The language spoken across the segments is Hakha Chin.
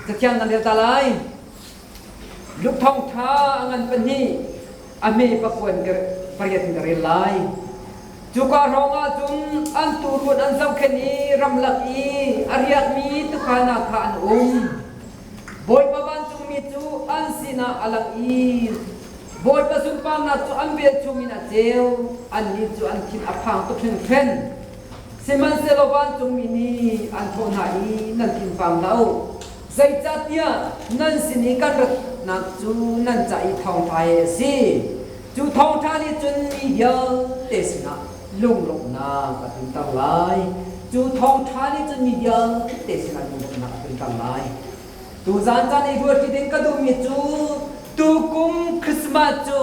Cathiang nan rel ta lai. Luke thawng ṭha a ngan pahnih a me papuan pariat in ka rel lai. Cuka hrawngah cun an tuurun an zohkhenh i ramlak i a riakmi tukana kha an um. Bawipa vancungmi cu an sinah a lang i Bawipa sunparnak cu an vel chungin a ceu, annih cu an thin a phang tuk hringhren. Sihmanhsehlaw vancungmi nih an thawh hna i, Nan thinphang lo. Zeicahtiah nan sin i kan ratnak cu nan ca i thawngṭha hi a si. Cu thawngṭha nih cun mi vialte sinah lunglawmhnak a tlunter lai. Cu thawngṭha nih cun mi vialte sinah lunglawmhnak a tlunter lai. Tuzan caan i ruat ṭi ding ka duhmi cu tukum Christmas cu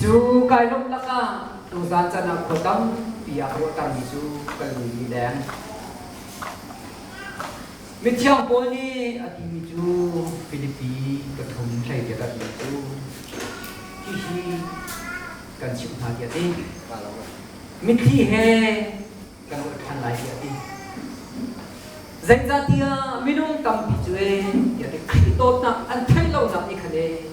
Cu kai lawmh takah tuzaan caan ah khua tampi ah ruahtermi cu kan lung i deng. Mithiang Paul nih a timi cu Filipi pathum hleikhat a timi cu hihi kan chimh hna tiah a ti. Mithi he kan ruah ṭhan lai tiah a ti. Zeicahtiah minung tampi cu ee tiah ti Khrih dawtnak an theih lonak i khan ee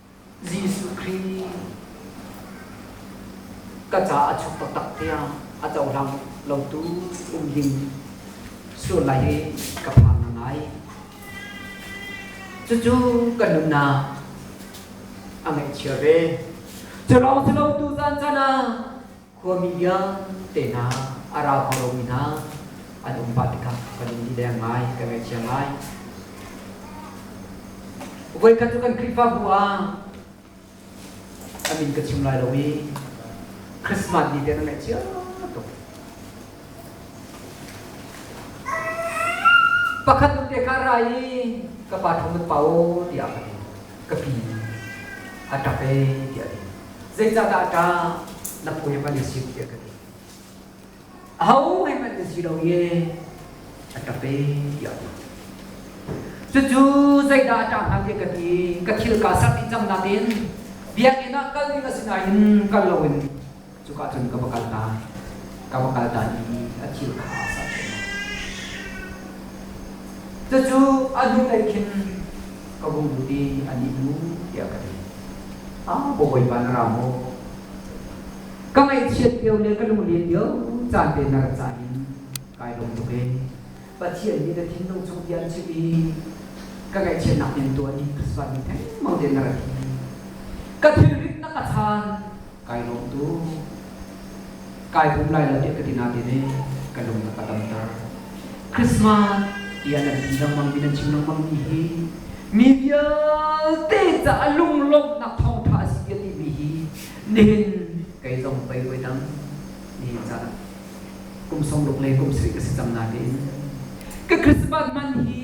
Jesuh Khrih ka caah a chuk taktak tiang a cohlang lotu um ding sulai hi ka phang ngai. Cucu kan nunnak a ngaihchia ve. Culawng culotu zan cana Khuami vialte hna, a rau kho lomi hna an um pah tikah kan in ti deng ngai, kan ngaihcia ngai. Voikhat cu kan Khrihfabu ah a min ka chim lai lo i Christmas ni te na ngaih cia tuk. Pakhat nun te ka ra i ka pa thong nan pa o tiah ka ti. Ka pi a ṭap e tiah a ti. zeicahdah ka na puai hman na si tiah ka ti aho he hman na si lo ye a ka pe tiah cucu zeidah a ṭah hnga tiah ka ti ka thil ka sermi cang nain biakinn ah kal ding a si nain kal loin cuka cun ka va kal ta ka va kal ta i a thil kha a serṭhen cucu a hnulei khin ka hung lut i an i hmu tiah ka ti. Ah Bawipa na ra maw? Ka ngaihchiat cio le ka lunglen cio caan te na rat caan in kai lawm tuk e. Pathian nih na thinlung chung bia chim i ka ngaihchiatnak rian tuan i ka sualmi thengmang te na rat hi ka thilrit na ka chan kai lawm tu kai hum lai lo ti ka ti na ti ne ka lung na ka tam ta Christmas tiah nan ti lengmang mi nan chim lengmang mi hi mi vialte caah lunglawmhnak thawngtha a si a ti mi hi nihin kei zong pei poi dang ni caah kum song luk le kum sarih ka si cang na tiin ka Christmas man hi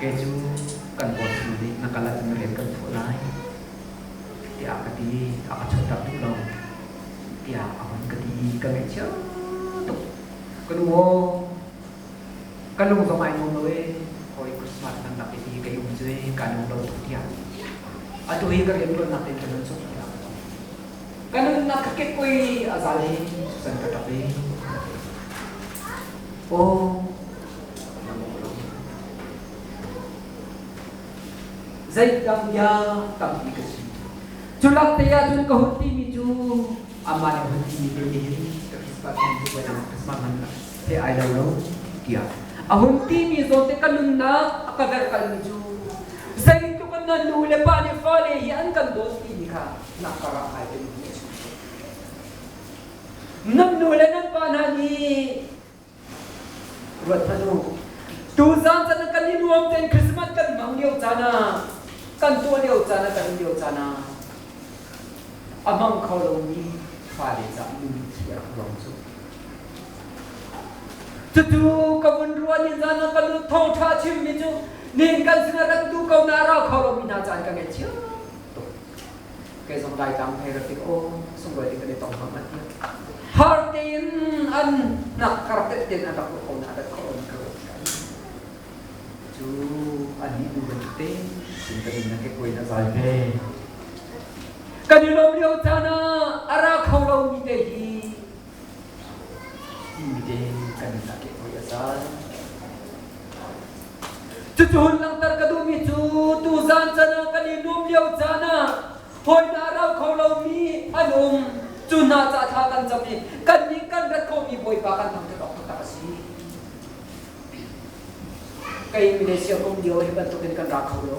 kei cu kan bawi fanu nih na kal ahcun rian kan phuah lai tiah ka ti a ka chuahter duh lo tiah a hun ka ti i ka ngaihchia tuk ka nu aw ka lung zong ai nuam lo e hawi christmas kan lak i ka um cu ka lung lo tuk tiah atu hi ka rian tuan nak in ka nun suk tiah ka nunnak ka kekoi a zal hi san ka tap i aw Zeitlak bia tampi ka si. Cu lakte ah cun ka hun timi cu amah le hun timi te tiin ka Christmas bantuk Christmas man he ai lo lo tiah a hun timi zawte ka nunnak a ka verkalmi cu zeitluk a nan nu le pa nih fale hi an kan dawt timi kha nak ka ra kai te nan nu le nan pa hna nih Ruat hmanh u. Tuzaan caan ah kan i nuam tein Christmas kan hmang lio caan ah, kan tuah lio caan ah, kan um lio caan ah, a hmang kho lomi fale caah nunthi a ruang cu. Cutu ka vun ruah ni zan ah ka nu thawngtha chimmi cu, nin kan sinah ran tu ko na ra kho lomi hna caan ka ngei cio. Kei zong Laitlang hei ra tik, aw, sunglawi ding kan i tong ngam an ti. Har tein an nak kar tet tein an rak kong na dat ko an ka Cu an ni du ban te, sin ka din na ke koi na zai ve. Kan i lom lio caan ah ara kho lo mi te hi Ide kan nak i oi a zan. Cucun langhter ka duhmi cu tu zan can ah kan i nuam lio caan ah hawidah rau kho lomi an um. Cu hna ca thla kan cam i kan nih kan rat khomi bawipa kan thang tuk awk taktak a si. Kei Malaysia um lio hi bantukin kan ra kho lo.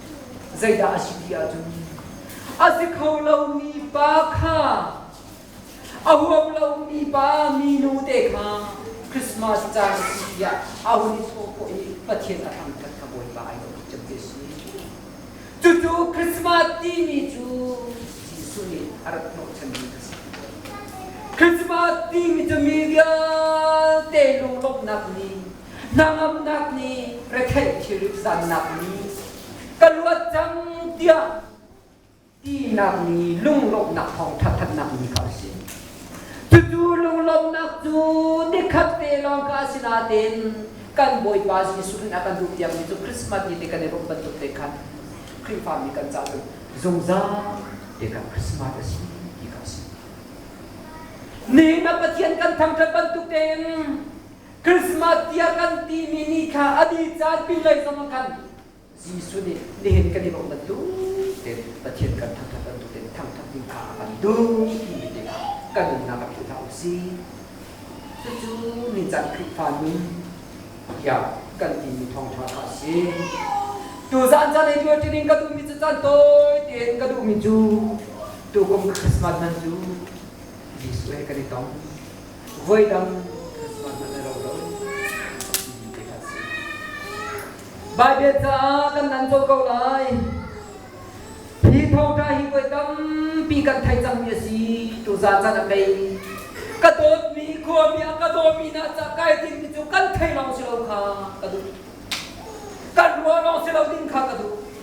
Zeidah a si ti ahcun a si kho lomi pa kha a huam lomi pa minu te kha Christmas caan a si tiah a hun i thawh khawh i Pathian a thang khat kha Bawipa ai lawm cem te si. Cucu Christmas timi cu Jesuh nih a rak hnawhchanmi a si. Christmas timi cu mi vialte lunglawmhnak nih Hnangamnak nih retheih thilrit zannak ni ka luat cang tiah tinak ni lunglawmhnak thawngṭha thatnak ni kha a si. Cucu lunglawmhnak cu nikhat te lawng ka si natein kan Bawipa Jesuh in a kan duh tiangmi cu Christmas ni te kan i rumh bantuk te khan Khrihfami kan caah cun zungzal te khan Christmas a si ti kha a si. Ni na Pathian kan thangṭhat bantuk tein Christmas tiah kan timi ni kha a dih caan pinlei zong ah khan Jesuh nih nihin kan i bawmh bantuk tein Pathian kan thangṭhat bantuk tein thangṭhat ding kha a kan duh timi te kha kan nunnak ah philh hlah u sih. Cucu ningcang Khrihfa nun tiah kan timi thawngṭha kha a si. Tu zan caan i luat ṭining ka duhmi cu caan tawi tein ka duhmi cu tukum Christmas man cu Jesuh he kan i tong. voidang Christmas hmanh a lo lo timi te kha a si. Baibel caah kan nan co ko lai. Hi thawngṭha hi voi tampi kan thei cangmi a si. Tu zan caan a pei ka dawtmi khuami a ka dawtmi hna ca kai dingmi cu kan thei lawng si lo kha ka duh. Kan ruah lawng si lo ding kha ka duh.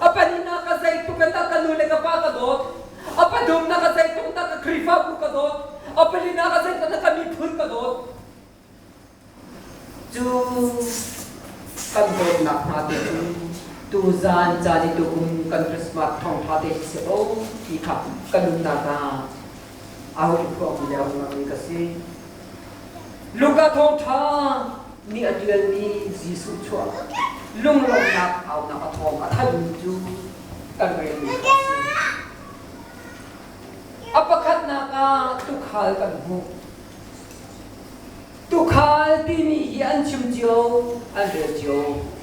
A pannak ka zeitluk in dah ka nu le ka pa ka dawt. A pa dumnak ka zeitluk dah ka Khrihfabu ka dawt. A palinak ka zeitluk dah ka miphun ka dawt. Cu kan dawtnak hna te cu tuzaan caan i tukum kan Christmas thawngtha te si ko ti kha kan nunnak ah a hoi phuang mi le a hung ka si. Luka thawngṭha nih a ṭialmi Jesuh chuah lunglawmhnak aunak a thawng a thanmi cu kan relmi kha a si. A pakhatnak ah tukhal kan hmuh. Tukhal timi hi an chim cio, an rel cio.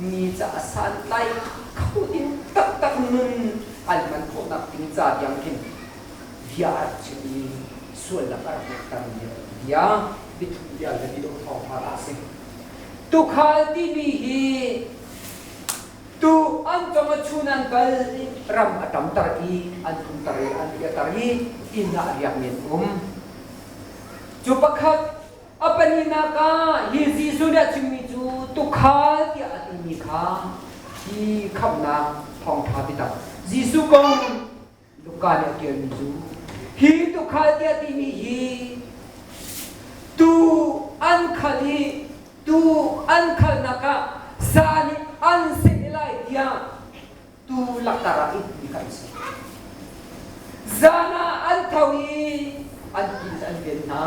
mi ca a santlai kho ding taktak nun an hman khawhnak ding ca tiang hin bia a rak chim i sualnak a rak ngeihter mi a rak bia biathuk bia le biadawh thawng hna a si tukhal timi hi tu an tong a chun an kal i ram a tamter i an kumter i an piater i inn ah riak men um cu pakhat A pahnihnak ah hi Jesuh nih a chimmi cu tukhal tiah a timi kha hi khamhnak thawngṭha biatak Jesuh kong in Luka nih a ṭialmi cu hi tukhal tiah timi hi tuu an khal i tuu an khalnak ah sa nih an seh lai tiah tuu langhter ah ihmi kha an si. Zan ah an tho i an inn an ven hna.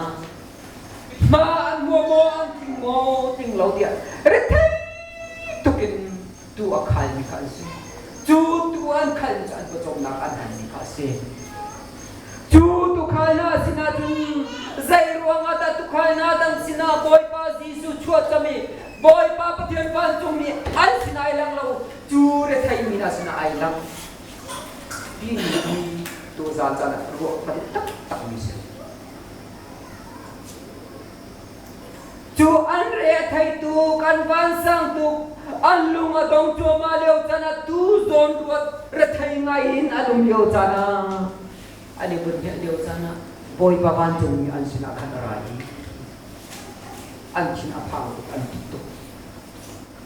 Hma an mua maw an tling maw tling lo tiah rethei tuk in tuu a khalmi kha an si. Cu tuu an khalmi cu an pawcawmnak an hanmi kha a si. Cu tukhal sinah cun zei ruangah dah tukhal dan sinah Bawipa Jesuh chuak cami Bawipa Pathian vancungmi an sinai lang lo cu retheihmi hna sinah ai lang timi hi tu zan caan ah ruah tam taktakmi si cu an re theitu kan vansang tu an lung a dong thuama leo cana tu zawn ruat rethei ngai in an um leo cana ani bun heh leo cana bawipa van cungmi an sinah khan a ra i an thin a phang tuk an tuk tuk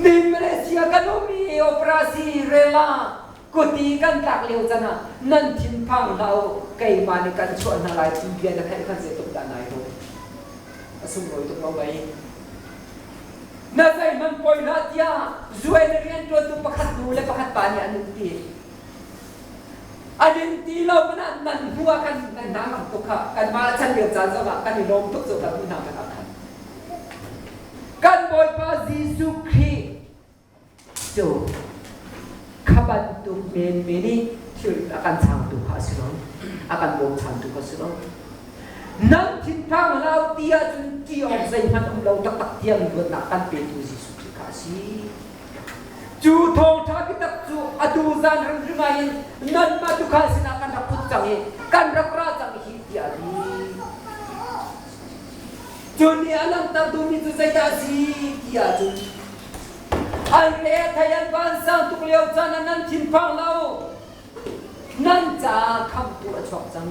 Min Malaysia kan ummi operasi rela kuti kan tlak lio can ah nan thinphang hlau keimah nih kan chuah hna lai thim bia na theih khan zei tuk dah nai ro a sunglawi tuk lo mei na zei man poi hlah tiah zuen rian tuantu pakhat nu le pakhat pa nih an um ti A ding ti lo panak nan hnu ah kan nan hnangam tuk kha kanmah a chan lio caan zong ah kan i lawm tuk cu kan unau kan khan kan Bawipa Jesuh Khrih cu kha bantuk menmen nih thil a kan changtu kha a si lo a kan bochantu kha a si lo nan thinphang hlau ti ahcun ti awk zeihmanh um lo taktak tiang luatnak kan petu Jesuh Khrih kha a si Cu thawngṭha biatak cu atu zan hrimhri ngai in nanmah tukhal sinah kan rak put cang i kan rak ra cang hi tiah a ti. Cun i a langhter duhmi cu zeidah a si ti ahcun an le thei an vansang tuk lio caan ah nan thinphang lo nan caah khamtu a chuak cang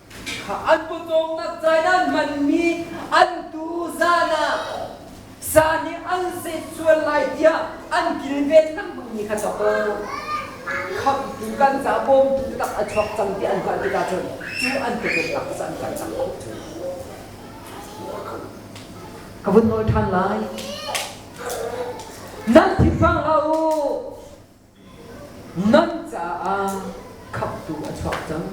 Kha an pawcawm takzaidan manmi an tu zan ah sa nih an zet sual lai tiah an kilven lengmangmi kha chawk khamtu kan ca bawmtu tak a chuak cang ti an hngalh tikah cun cu an kekennak cu an kan chak khawh ka vun nawl ṭhan lai nan thinphang hlah u Nan caah khamhtu a chuak cang.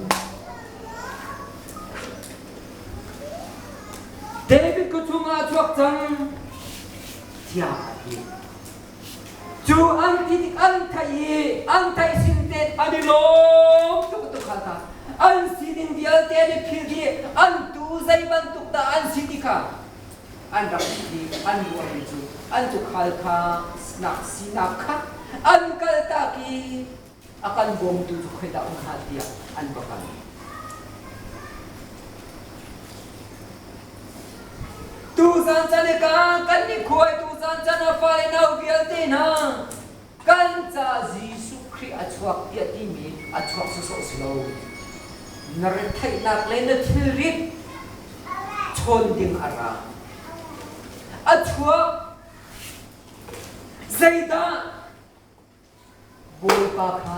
David ku chungah a chuak cang. Tiah a ti. Cu an ti tik an theih i an theih sin te an i lawm tuk tuk kha ta. An si ding vialte nih philh dih an tu zei bantuk dah an si ti kha an rak ṭhit i an ruahmi cu an tuukhal kha nak sinak kha an kaltak i a kan bawmtu cu khoidah um hnga tiah an va kal. Tu zan chan i kan kan ni khuai tu zan chan a fai nau vialte hna Kan ca Jesuh Khrih a chuak tiah timi a chuak sawsawh si lo. Na retheihnak le na thilrit chawn ding a ra. A chuak. Zeidah? Bawipa kha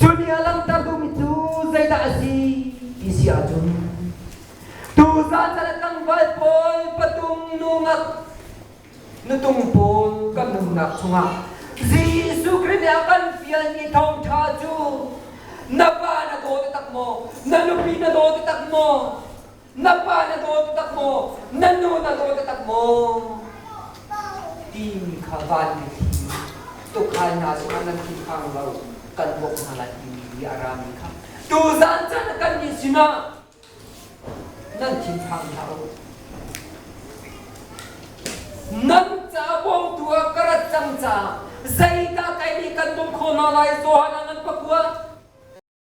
Cu ni a langhter duhmi cu zeidah a si ti si ahcun tuzan caan ah tlangval pawl patung nu ngak nutung pawl kan nunnak chungah Jesuh Khrih nih a kan fialmi thawngṭha cu na pa na daw takmaw na nupi na daw tak maw na pa na daw taktak maw na nu na daw taktak maw timi kha vanmi thi tukhal hna zongah nan thinphang lo kan bawk hna lai timi bia a rami kha tuzan chan kan nih sinah nan thinphang hlah u nan ca bawmtu a ka rat cang ca zeidah kai nih kan bawm kho hna lai tuhan ah nan pakua